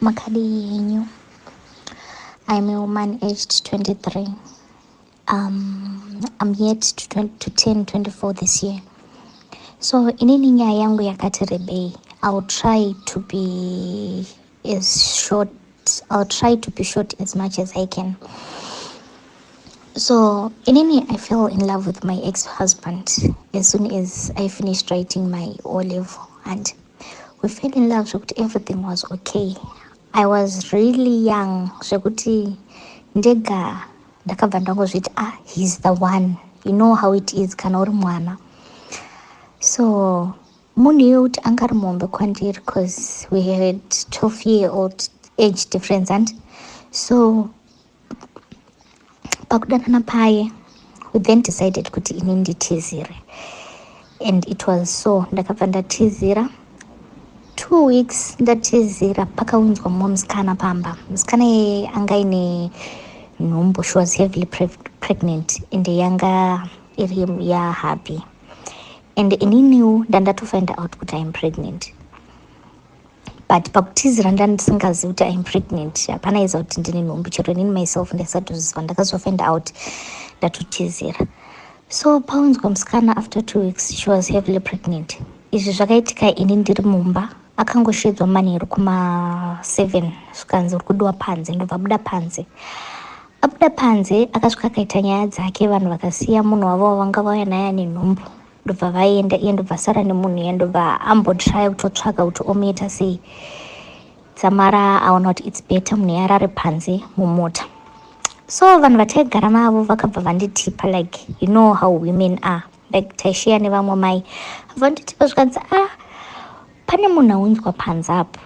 makadii henyu i'm a woman aged 23 um, i'm yet to, 20, to 10 24 this year so inini nyaya yangu yakati rebei iwill try to be as short I'll try to be short as much as I can. So, inini, I fell in love with my ex husband as soon as I finished writing my O level. And we fell in love, so everything was okay. I was really young, so ndega ndakabva ndangozviti ah he's the one you know how it is kana uri mwana so Munhu iwe kuti anga ari muhombe kwandiri cause we had 12 year old age difference and so pakudanana paye we then decided kuti ini nditizire and it was so ndakabva ndatizira two weeks ndatizira pakaunzwa mumwe musikana pamba musikana yeye anga ine nhumbu she was heavily pregnant and yanga iri yahappy and ininiwo ndandatofind out kuti iam pregnant but pakutizira ndandisingazivi kuti iam pregnant hapana iza kuti ndine nhumbu chero inini myself ndaisatozviziva ndakazofind out ndatotizira so paunzwa musikana after two weeks she was heavily pregnant izvi zvakaitika ini ndiri mumba akangoshedzwa manheru kuma seven zvikanzi uri kudiwa panze ndobva buda panze Abuda panze akasvika akaita nyaya dzake vanhu vakasiya munhu wavo wavanga vauya naye ane nhumbu ndobva vaenda iye ndobva asara nemunhu iye ndobva ambotraya kutotsvaga kuti omuita sei dzamara aona kuti its better munhu yarare panze mumota so vanhu vataigara navo vakabva vanditipa like you know how women are like taisheya nevamwe mai vanditi pazvikanzi a ah, pane munhu aunzwa panze apo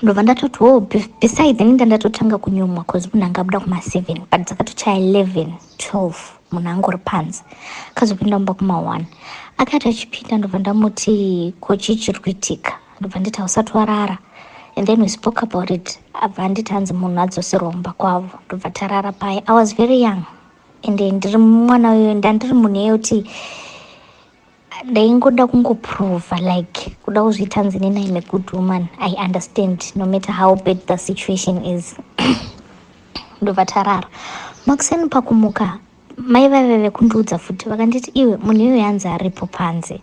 ndobva ndatoti wo besides ndinga ndatotanga kunyumwa bcause munhu anga abuda kuma-seven but dzakatochaya eleven twelve munhu anga uri panze akazopinda mumba kuma-one akati achipinda ndobva ndamuti kochii chiri kuitika ndobva nditi hausati warara and then we spoke about it abva anditi hanzi munhu adzoserwa mumba kwavo ndobva tarara paye i was very young ende ndiri mwana uyo ndandiri munhu yekuti ndaingoda kungoprova like kuda kuzviita nzi nena ime good woman i understand no matter how bad the situation is ndobva tarara makuseni pakumuka mai vaive vekundiudza futi vakanditi iwe munhu iyoyo anzi aripo panze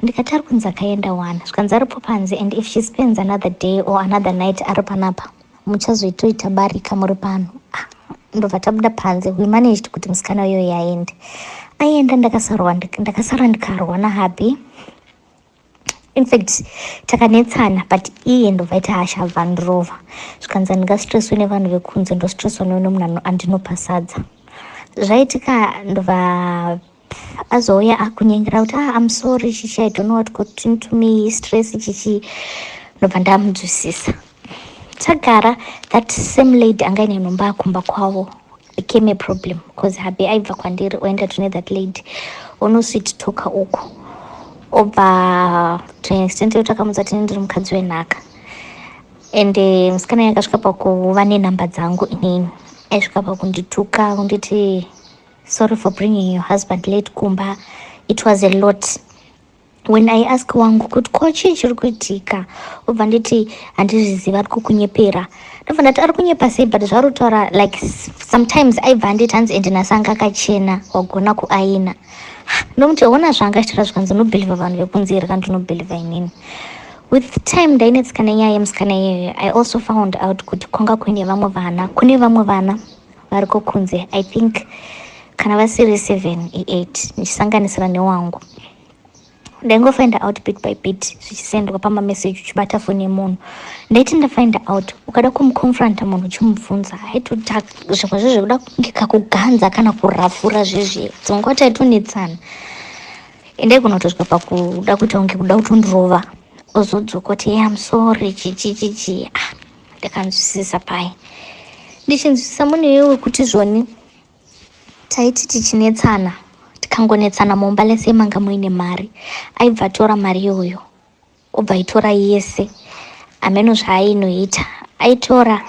ndikati ari kunzi akaenda wani zvikanzi aripo panze and if she spends another day or another night ari panapa muchazoitoita barika muri pano ah, ndobva tabuda panze we managed kuti musikana uyo yaende aienda ndakasarwa ndakasara ndikarwa nahappy infact takanetsana but iye ndobva ita hasha abva ndirova zvikanzi andingastresswe nevanhu vekunze ndostresswa neune munhu andinopasadza zvaitika ndobva azouya akunyengera kuti ah, I'm sorry chichi I don't know what got into me stress chichi ndobva ndamunzwisisa tagara that same lady anga ine nhomba akumba kwavo became a problem because habe aibva kwandiri oenda tune that lady onosweet toka uku obva to an extent yekuti akamudza tine ndiri mukadzi wenhaka and eh, musikana yakasvika pakuva nenhamba dzangu inini aisvika pakundituka kunditi Sorry for bringing your husband late kumba. It was a lot. When I ask wangu kuti ko chii chiri kuitika obva nditi handizviziva ari kukunyepera ndobva ndati ari kunyepa sei but zvaari kutaura like s- sometimes aibva anditi hanzi ende nhasi anga akachena wagona kuaina ndomuti ona zvanga achitaura zvikanzi unobhilivha vanhu vekunze here kana ndinobhilivha inini with time ndainetsika nenyaya yemusikana iyeyo i also found out kuti kwanga kuine vamwe vana kune vamwe vana variko kunze i think kana vasiri seven eight ndichisanganisira newangu ndaingofind out bit by bit zvichisendwa pamameseji uchibata foni yemunhu ndaiti ndafind out ukada kumuconfronta munhu uchimubvunza haitoda zvimwe zve zvekuda kunge kakuganza kana kurafura zvezve dzonga taitonetsana ende kunotosvika pakuda kuita kunge kuda kutondirova ozodzoka kuti ye amsorry chichichichi ah ndakanzwisisa pai ndichinzwisisa mune iwe kuti zvoni taiti tichinetsana tikangonetsana mumba lese manga muine mari aibva atora mari iyoyo obva aitora yese ameno zvaainoita aitora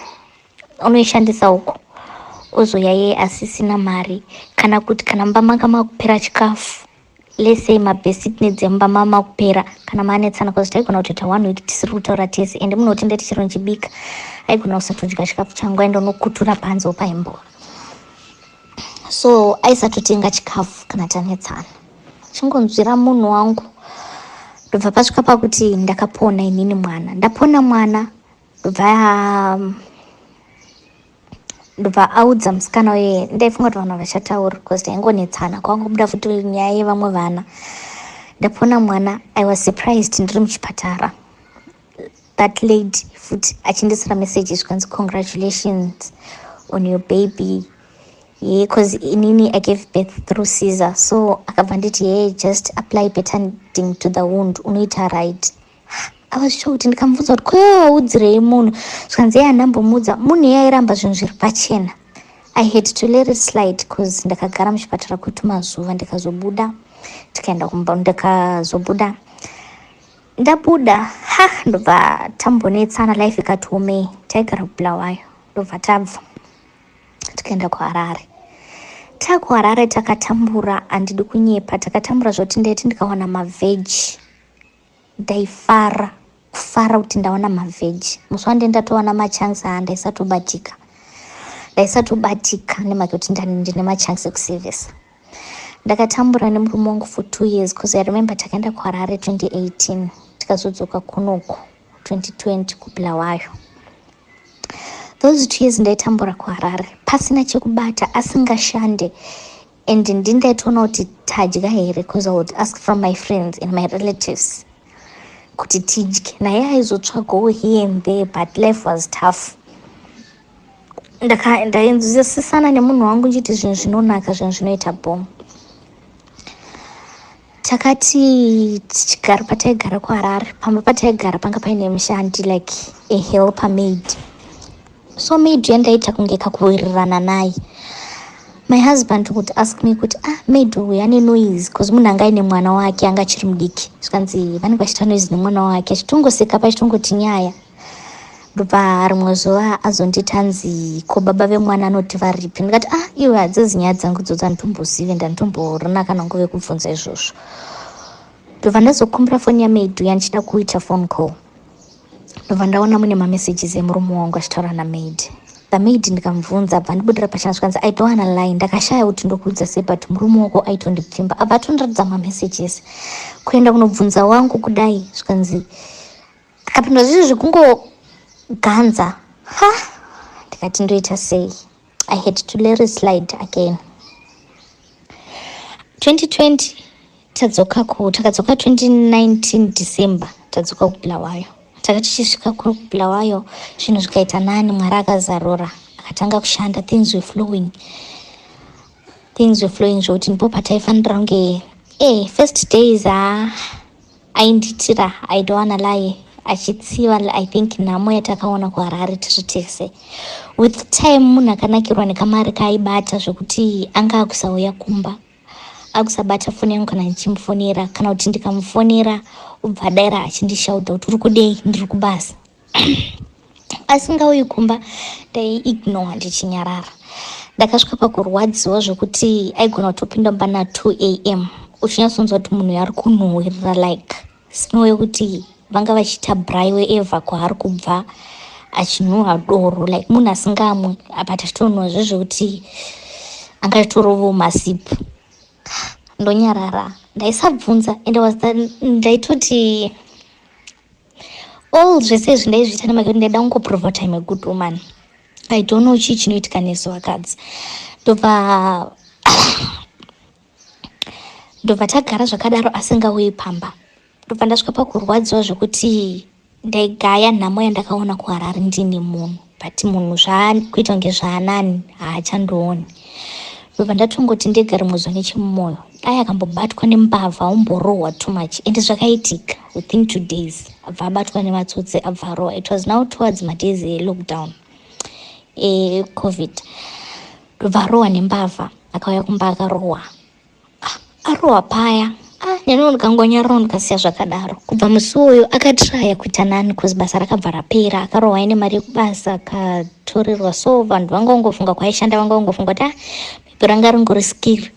unoishandisa uko ozouya yeye asisina mari kana kuti kana mumba manga makupera chikafu Let's say mabasic needs emumba mama kupera kana maanetsana cause taigona kutoita one week tisiri kutaura tese and munoti ndati chero ndichibika aigona kusatodya chikafu changu aenda unokutura panze opaimbowa so aisatotenga chikafu kana tanetsana chingonzwira munhu wangu ndobva pasvika pakuti ndakapona inini mwana ndapona mwana ndobva um, ndobva audza musikana uye ndaifunga kuti vanhu vachataura because taingonetsana kwangobuda futi nyaya yevamwe vana ndapona mwana i was surprised ndiri muchipatara that lady futi achindisira message zvikanzi congratulations on your baby ye cause inini i gave birth through caesar so akabva nditi ye just apply betanding to the wound unoita right I was shocked ndikamubvunza kuti ko waudzirei munhu zvikanzi iye andambomuudza munhu iye airamba zvinhu zviri pachena i had to let it slide bcause ndakagara muchipatara kwetumazuva ndikazobuda tikaenda kumba ndikazobuda ndabuda ha ndobva tambonetsana life ikati omei taigara kubulawayo ndobva tabva tikaenda kuharare takuharare takatambura handidi kunyepa takatambura zvoti ndaiti ndikawana mavheji Ndaifara kufara kuti ndaona mavheji musi wandee ndatoona machansi aa ndaisatobatika ndaisatobatika nemake kuti ndine machansi ekusevesa ndakatambura nemurume wangu for two years bcause i remember takaenda kuharare 2018 tikazodzoka kunoku 2020 kubulawayo those two years ndaitambura kuharare pasina chekubata asingashande and ndindatonoti tadya here bcause i would ask from my friends and my relatives kuti tidye naye aizotsvagawo here and there but life was tough ndainzwisisana nemunhu wangu ndichiti zvinhu zvinonaka zvinhu zvinoita bom takati tichigara pataigara kuharare pamba pataigara panga paine mushandi like a helper maid so maid yandaita kunge kakuwirirana naye my husband would ask me kuti ah maid uyu ane noise bcause munhu anga aine mwana wake anga achiri mudiki zvikanzi vanenge vachita noise nemwana wake achitongoseka pachitongoti nyaya ndobva rimwe zuva azonditi hanzi ko baba vemwana anoti varipi ndikati ah iwe hadzizi nyaya dzangu dzodzo anditombozive ndanditomborina kana nguve kubvunza izvozvo ndobva ndazokumbira foni yamaidu yandichida kuita phone call ndobva ndaona mune mamessages emurume wangu achitaura namaid the maid ndikamubvunza abva ndibudira pachana zvikanzi i don't wanna lie ndakashaya kuti ndokuudza sei but murume wako aitondipfimba abva atondiratidza mamessages kuenda kunobvunza wangu kudai zvikanzi Ndikapindwa zviri zvekungoganza ha ndikati ndoita sei i had to let it slide again 2020 tadzoka ku takadzoka 2019 december tadzoka kubulawayo taka tichisvika kuri kubulawayo zvinhu zvikaita nani mwari akazarura akatanga kushanda things were flowing things were flowing zvekuti ndipo pataifanira kunge e first days haa ah, Ainditira I don't wanna lie achitsiva I think nhamo yatakaona kuHarare tiri tese. With time munhu akanakirwa nekamari kaaibata zvekuti anga akusauya kumba. Akusabata foni yangu kana ndichimufonera kana kuti ndikamufonera obva adaira achindishauta kuti uri kudei ndiri kubasa. asingauyi kumba ndaiignore ndichinyarara ndakasvika pakurwadziwa zvekuti aigona kutopinda mumba na 2 am uchinyatsonzwa kuti munhu yaari kunhuhwirira like snow yekuti vanga vachiita braiwe eva kwaari kubva achinhuhwa doro like munhu asingamwe apa tachitonhuhwa zve zvekuti anga achitorovo masipu ndonyarara ndaisabvunza ende ndaitoti all zvese izvi ndaizviita nemake kuti ndaida kungoprova kuti im a good woman i don't know chii chinoitika nesu vakadzi ndobva ndobva tagara zvakadaro asingauyi pamba ndobva ndasvika pakurwadziwa zvekuti ndaigaya nhamo yandakaona kuharari ndini munhu but munhu zvakuita kunge zvaanani haachandioni ndobva ndatongoti ndega rimwe zuva nechemumoyo dai akambobatwa nembavha aumborohwa too much and zvakaitika within two days abva abatwa nematsotsi abva arohwa it was now towards madays elockdown ecovid ndobva arohwa nembavha akauya kumba akarohwa arohwa paya ah, neniwo ndikangonyararo ndikasiya zvakadaro kubva musi uyu akatraya kuita nani bcoz basa rakabva rapera akarohwa ine mari yekubasa akatorerwa so vanhu vangangofunga kwaishanda vangangofunga kuti ah maybe ranga ringori skiri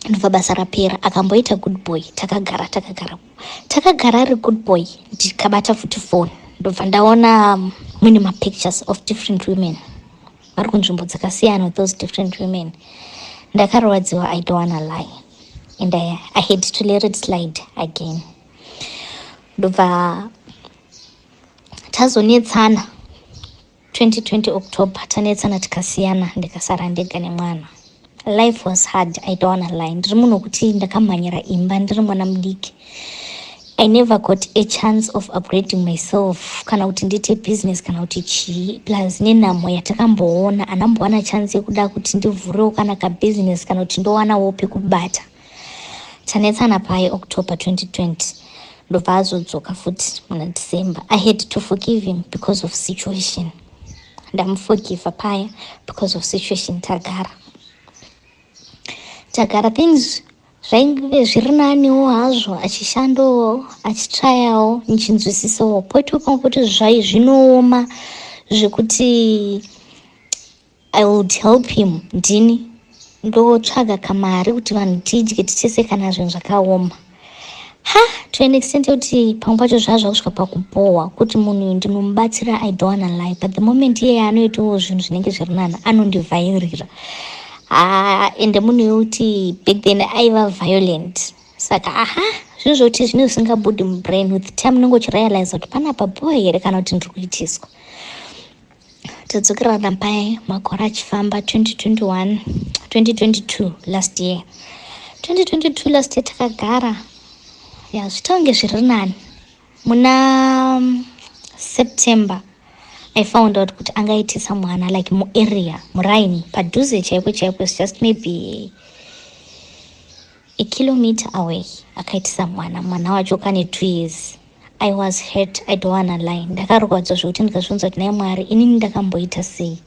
ndobva basa rapera akamboita good boy takagara takagara takagara ari good boy ndikabata futi foni ndobva ndaona mune mapictures of different women vari kunzvimbo dzakasiyana with those different women ndakarwadziwa i don't wanna lie and I, i had to let it slide again ndobva tazonetsana 2020 october tanetsana tikasiyana ndikasara ndega nemwana life was hard i don't wanna lie ndiri munhu wekuti ndakamhanyira imba ndiri mwana mudiki i never got a chance of upgrading myself kana kuti ndiite business kana kuti chii plus nenhamo yatakamboona anambowana chance yekuda kuti ndivhurewo kana kabusiness kana kuti ndowanawo pekubata tanetsana paye october 2020 ndobva azodzoka futi muna december i had to forgive him because of situation ndamuforgiva paya because of situation tagara tagara things zvainge zviri naniwo hazvo achishandowo achitrayawo ndichinzwisisawo poitwa pamwe kuti zvai zvinooma zvekuti I would help him ndini ndotsvaga kamari kuti vanhu tidye tichese kana zvinhu zvakaoma ha to an extent yekuti pamwe pacho zvaa zvakusvika pakubhohwa kuti munhu uyu ndinomubatsira i don't wanna lie but the moment iyeye anoitawo zvinhu zvinenge zviri nani anondivhairira ha ende munhu yekuti back then aiva violent saka aha zvinhu zvekuti zvinenge zvisingabudi mubrain with time unenge uchirealiza kuti panapa bhohwa here kana kuti ndiri kuitiswa todzokerana paye makore achifamba 2021 2022 last year 2022 last year takagara ya zvitonge zviri nani muna um, september i found out kuti angaitisa mwana like muarea muraini padhuze chaiko chaiko is just maybe a kilometer away akaitisa mwana mwana wacho kane two years I was hurt, I don't wanna lie. Ndakarwadzwa zvekuti ndikazvunza kuti naye Mwari inini ndakamboita sei.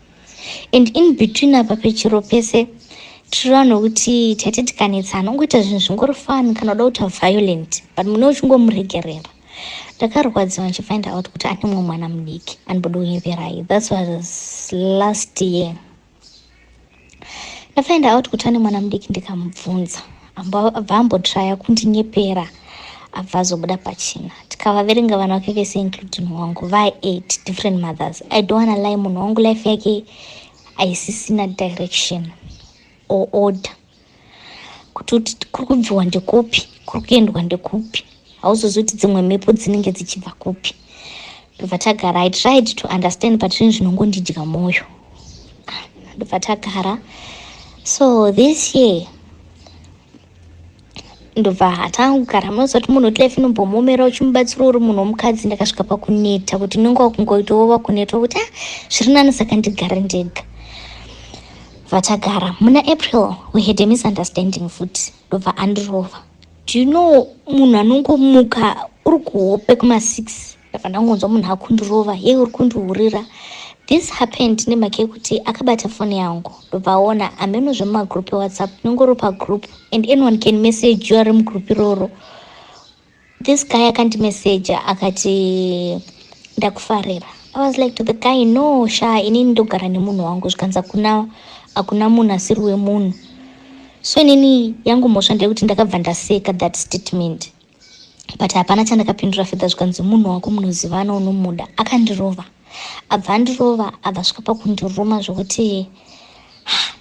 And in between apa pechiro pese tiri vanhu vekuti taiti tikanetsa anongoita zvinhu zvingori fani kana uda kuita violent but mune uchingomuregerera ndakarwadziwa ndichifind out kuti ane mumwe mwana mudiki andibodo kuyeverai thats was last year ndafind out kuti ane mwana mudiki ndikamubvunza abva ambotraya kundinyepera abva azobuda pachina tikavaverenga vana vake vese including wangu vai eight different mothers i don't wanna lie munhu wangu life yake aisisina direction or order kuti kuti kuri kubviwa ndekupi kuri kuendwa ndekupi hauzozivi kuti dzimwe mhepo dzinenge dzichibva kupi ndobva tagara i tried to understand but zvinhu zvinongondidya mwoyo ah, ndobva tagara so this year ndobva hatanga kugara munoziva kuti munhu wetlife inombomuomera uchimubatsira uri munhu womukadzi ndakasvika pakuneta kuti unenge wakungoitawo vakuneta kuti a ah, zviri nani saka ndigare ndega Vachagara muna April we had a misunderstanding futi ndobva andirova. Do you know munhu anongomuka uri kuhope kuma 6 ndabva ndangonzwa munhu akundirova ye uri kundihurira this happened nemhaka yekuti akabata foni yangu ndobva aona hameno zvemumagroup ewhatsapp inongori pagroup and anyone can message you ari mugroup iroro This guy akandimeseja akati ndakufarira. I was like to the guy no sha inini ndogara nemunhu wangu zvikanzi hakuna hakuna munhu asiri wemunhu. So inini yangu mhosva ndeyekuti ndakabva ndaseka that statement but hapana chandakapindura fedha zvikanzi munhu wako munozivana unomuda akandirova abva andirova abva svika pakundiruma zvokuti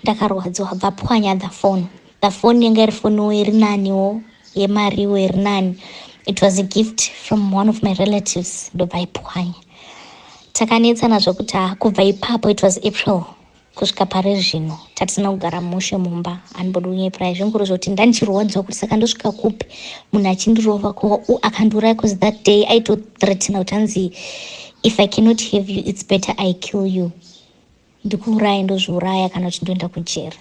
ndakarwadziwa abva apwanya the phone Pafoni yanga iri foniwo iri naniwo yemariwo iri nani. It was a gift from one of my relatives ndobva ipwanya. Takanetsana zvokuti ah, kubva ipapo it was April kusvika pari zvino tatisina kugara mushe mumba anibodi kunyepera izvinguri zvoti ndandichirwadziwa kuti saka ndosvika kupi munhu achindirova ko u akandiuraya bcause that day aitothreatena kuti anzi if i cannot have you its better i kill you ndikuuraye ndozviuraya kana kuti ndoenda kujeri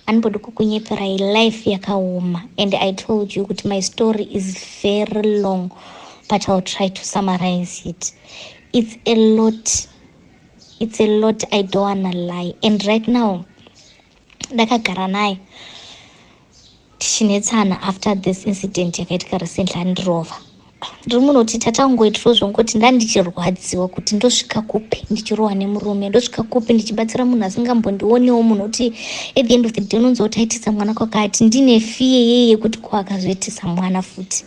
anobodi kukunyeperai life yakaoma and i told you kuti my story is very long but iwill try to summarize it it's a lot it's a lot i don't wanna lie and right now ndakagara naye tichinetsana after this incident yakaitika recently andirova ndiri munhu kuti tatangoitiro zvongoti ndandichirwadziwa kuti ndosvika kupi ndichirohwa nemurume ndosvika kupi ndichibatsira munhu asingambondionewo munhu kuti at the end of the day unonzi utaitisa mwana kwakati ndine fiye yeye yekuti ko akazoitisa mwana futi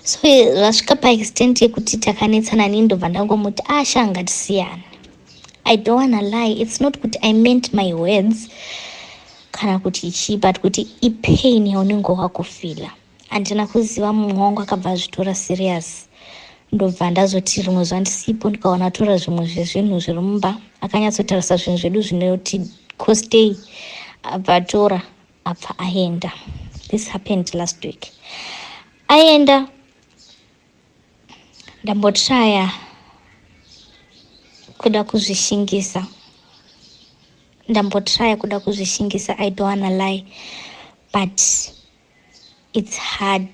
so zvasvika paextent yekuti takanetsana nii ndobva ndangomuti asha ah, ngatisiyana i don't wanna lie it's not kuti i meant my words kana kuti chii but kuti ipain yaunenge wakufila handina kuziva mumwe wangu akabva azvitora serious ndobva ndazoti rimwe zuva ndisipo ndikaona atora zvimwe zvezvinhu zviri mumba akanyatsotarisa zvinhu zvedu zvinoti costei abva atora abva aenda this happened last week aenda ndambotraya kuda kuzvishingisa ndambotraya kuda kuzvishingisa i don't wanna lie but it's hard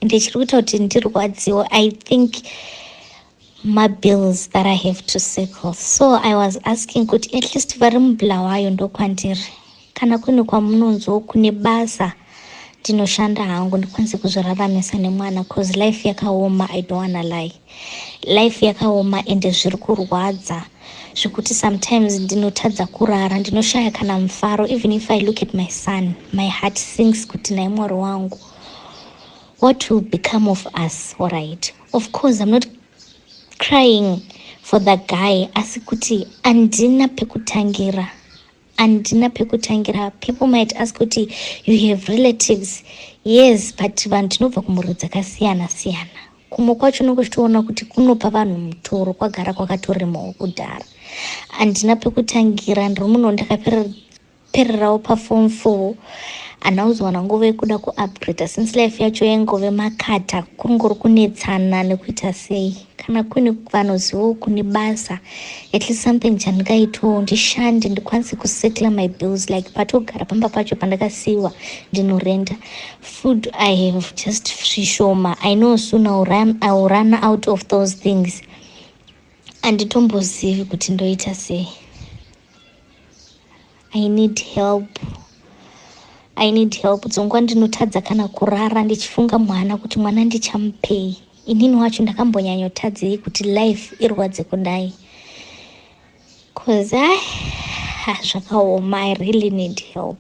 ndichiri kuita kuti ndirwadziwo i think mabills that i have to settle so i was asking kuti at least vari mubulawayo ndokwandiri kana kune kwamunonzwo kune basa ndinoshanda hangu ndikwanise kuzviraramisa nemwana bcause life yakaoma i don't wanna lie life yakaoma ende zviri kurwadza zvekuti sometimes ndinotadza kurara ndinoshaya kana mufaro even if i look at my son my heart sings kuti naye mwari wangu What will become of us all right of course I'm not crying for the guy asi kuti andina pekutangira andina pekutangira people might ask kuti you have relatives yes but vanhu tinobva kumhuri dzakasiyana siyana kumwe kwacho unenge uchitoona kuti kunopa vanhu mutoro kwagara kwakatoremawo kudhara andina pekutangira ndiri muno ndakapera pererawo paform four ana uzowana nguva yekuda kuupgrada since life yacho yaingove makata kungori kunetsana nekuita sei kana kune vanozivawo kune basa at least something chandingaitawo ndishande ndikwanise kusettla my bills like patogara pamba pacho pandakasiiwa ndinorenda food i have just zvishoma i know soon iwill run out of those things anditombozivi kuti ndoita sei i need help i need help dzongwa ndinotadza kana kurara ndichifunga mwana kuti mwana ndichamupei inini wacho ndakambonyanyotadzei kuti life irwadze kudai bcause i ah, zvakaoma i really need help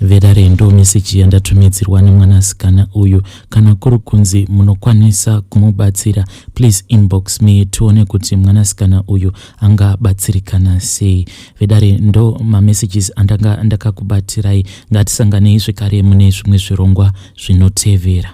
vedare ndo meseji yandatumidzirwa nemwanasikana uyu kana kuri kunzi munokwanisa kumubatsira please inbox me tione kuti mwanasikana uyu angabatsirikana sei vedare ndo mamessages andanga ndakakubatirai ngatisanganei zvekare mune zvimwe zvirongwa zvinotevera